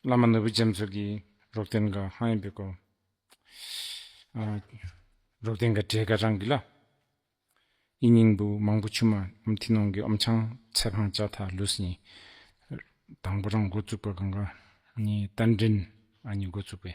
བླ་མ་ནོར་བུ་རྒྱ་མཚོ་གིས་རོགས་ལྡན་འགའ་ཧང་ཡིན་པའི་སྐོར། རོགས་ལྡན་འགའ་བྲེལ་འགའ་རང་གི་ལ། ཨི་སྙིང་བུ་མང་པོ་ཆུ་མ་ཨམ་ཐི་ནོང་གི་ཨོམ་ཆང་ཚལ་འཕང་ལྕགས་ཐག་ལུས་གཉིས། དང་པོ་རང་འགོ་བཙུགས་པ་གང་ག་ནི་རྟ་མགྲིན་ཨ་ནི་འགོ་བཙུགས་པའི།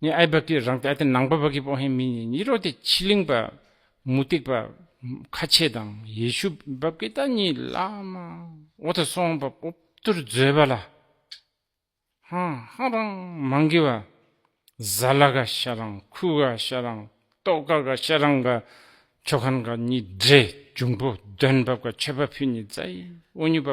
ནི་ཨའི་བ་ཀི་རང་སྟེ་ཨ་ཏི་ནང་པ་བ་ཀི་པོ་ཧེ་མི་ནི་ནི་རོ་སྟེ་ཕྱི་གླིང་པ་མུ་སྟེགས་པ་ཁ་ཆེ་དང་ཡེ་ཤུ་བ་ཀི་ད་ནི་བླ་མ་འོ་ད་སོང་པ་པོ་ཏུར་རྫོད་པ་ལ་ཧང་ཧང་རང་མང་གི་བ་ཟ་ལ་ག་ཤ་རང་ཁུ་ག་ཤ་རང་ཏོག་ག་ག་ཤ་རང་ག་ཆོ་ག་ན་ག་ནི་འདྲེ་འབྱུང་པོ་འདོན་བ་ག་ཆོད་པ་ཕུ་ནི་ཛའི་འོ་ཉུ་བ་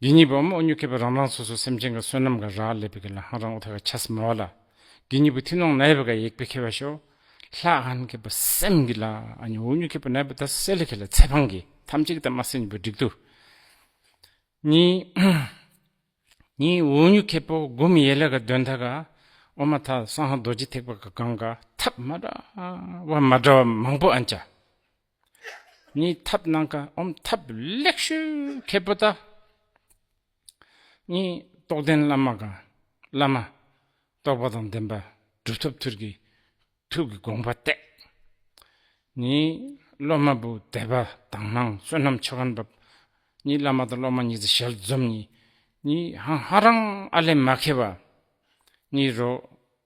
དགེ་གཉིས་པོ་འམ་དབུ་སྙུག་མཁས་པའི་རང་རང་སོ་སོའི་སེམས་ཅན་གྱི་བསོད་ནམས་ག་ར་ལས་པའི་གི་ལ་ཧང་རང་འུ་ཐ་ག་ཆ་སི་མ་བ་ལ། དགེ་གཉིས་པོ་ཐི་ནོང་ན་ཡ་བའི་ག་ཡེག་པའི་ཁེ་བ་ཤོ། ལྷ་ཨན་མཁས་པ་སེམས་གི་ལ་ཨ་ནི་དབུ་སྙུག་མཁས་པ་ན་ཡ་བ་ད་སེ་ལི་ཁེ་ལ་ཚེ་འཕང་གི་ཐམས་ཅད་གི་ད་མ་སེ་ཉིད་པའི་བསྒྲིག་ཏུ། གཉིས། གཉིས་དབུ་སྙུག་མཁས་པོ་དགུ་མི་ཡེ་ལ་ག་དོན་ཐ་ག་ཨོ་མ་ཐ་སང་ཧ་རྡོ་རྗེ་ཐེག་པ་ག་གང་ག་ཐབས་མ་འདྲ་བ་མ་འདྲ་བ་མང་པོ་ཨན་བྱ། གཉིས་ཐབས་སྣང་ཁ་འོམ་ཐབས་ལེགས་ཤོས་མཁས་པོ་དག། གཉིས་རྟོགས་ལྡན་བླ་མ་གང་བླ་མ། རྟོགས་པ་དང་ལྡན་པ་གྲུབ་ཐོབ་ཐུར་གྱི་ཐུགས་ཀྱི་དགོངས་པ་གཏད། གཉིས་སློབ་མ་བུ་དད་པ་དང་སྣང་བསོད་ནམས་ཆོ་ག་འབབ། གཉིས་བླ་མ་དང་སློབ་མ་གཉིས་ཀྱི་ཞལ་འཛོམས་གཉིས། གཉིས་ཧང་ཧ་རང་ཨ་ལས་མ་ཁེལ་བ། གཉིས་རོ།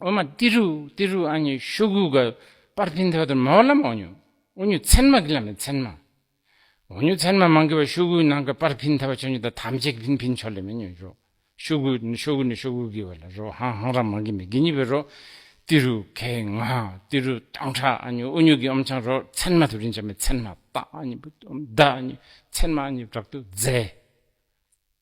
ཨོ་མ་ཏི་རུ་ཏི་རུ་ཨ་ཉི་ཤོ་གུ་ག་པར་ཏིན་ཐོ་ཏོར་མ་བ་ལམ་ཨོ་ཉུ་ཨོ་ཉུ་ཚན་མ་གི་ལམ་མེ་ཚན་མ་ཨོ་ཉུ་ཚན་མ་མང་གི་བ་ཤོ་གུ་ནང་གི་པར་ཕིན་ཐ་བ་ཆོ་ཉུ་ད་ཐམ་ཅེ་གི་ཕིན་ཕིན་ཆོ་ལེ་མེ་ཉུ་རོ་ཤོ་གུ་ཤོ་གུ་ནི་ཤོ་གུ་གི་བ་ལ་རོ་ཧང་ཧང་ར་མང་གི་མེ་གི་ཉི་བི་རོ་ཏི་རུ་གེ་ང་ཏི་རུ་ཏང་ཁྲ་ཨ་ཉུ་ཨོ་ཉུ་གི་ཨོམ་ཆང་རོ་ཚན་མ་ཐུ་རིན་ཆ་མེ་ཚན་མ་ཏ་ཨ་ཉི་བུ་ཏོམ་ད་ཨ་ཉུ་ཚན་མ་ཨ་ཉི་བྲག་ཏུ་ཛེ།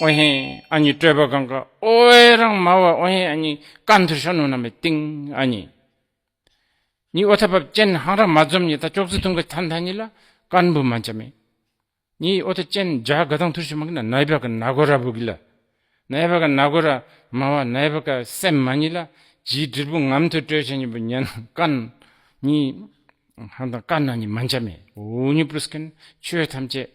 ཨོ་ཧེ་ཨ་ཉི་སྤྲོས་པ་གང་ག་ཨོ་ཨེ་རང་མ་བ་ཨོ་ཧེ་ཨ་ཉི་ཀ་མཐུར་ཤོ་ནུ་ན་མེ་ཏིང་ཨ་ཉི་ཉི་ཨོ་ཐ་བབ་ཅན་ཧང་རང་མ་འཛོམ་ཉི་ད་ཅོག་ཙི་ཐུང་ག་ཐ་མཐའ་ཉི་ལ་ཀར་འབུ་མ་འཇ་མེ་ཉི་ཨོ་ཐ་ཅན་འཇ་ག་དང་མཐུར་ཤོ་མ་གི་ན་ནའི་བ་ག་ན་གོ་ར་བུ་གི་ལ་ནའི་བ་ག་ན་གོ་ར་མ་བ་ནའི་བ་ག་སེམས་མ་ཉི་ལ་ཇིའི་དྲིལ་བུ་ངམ་མཐུར་སྤྲོས་བྱ་ཉི་བུ་ཉན་ཀ་ཉི་ཧང་དང་ཀ་ན་ཉི་མ་འཇ་མེ་འུ་ཉི་པུ་རུ་སྐན་ཆོས་ཐམས་ཅད།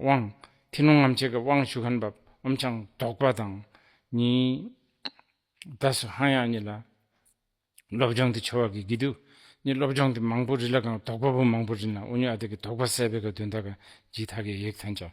དབང། ཐིག་ལུང་ངམ་ཆས་ཀྱི་དབང་ཞུ་མཁན་བབས་འོམ་ཆང་བདོག་པ་དང་གཉིས། བདག་སུ་ཧང་ཡང་གཉིས་ལ། སློབ་སྦྱོང་དེ་འཆོལ་བ་གི་གི་དུ། གཉིས་སློབ་སྦྱོང་དེ་མང་པོ་རིལ་ལ་གང་བདོག་པ་པོ་མང་པོ་རིལ་ན་ཨུ་ཉོ་ཨ་དེ་གི་བདོག་པ་སད་པའི་ག་དུན་ད་ག་གྱིས་ད་གའི་ཡེག་ཐན་བྱ།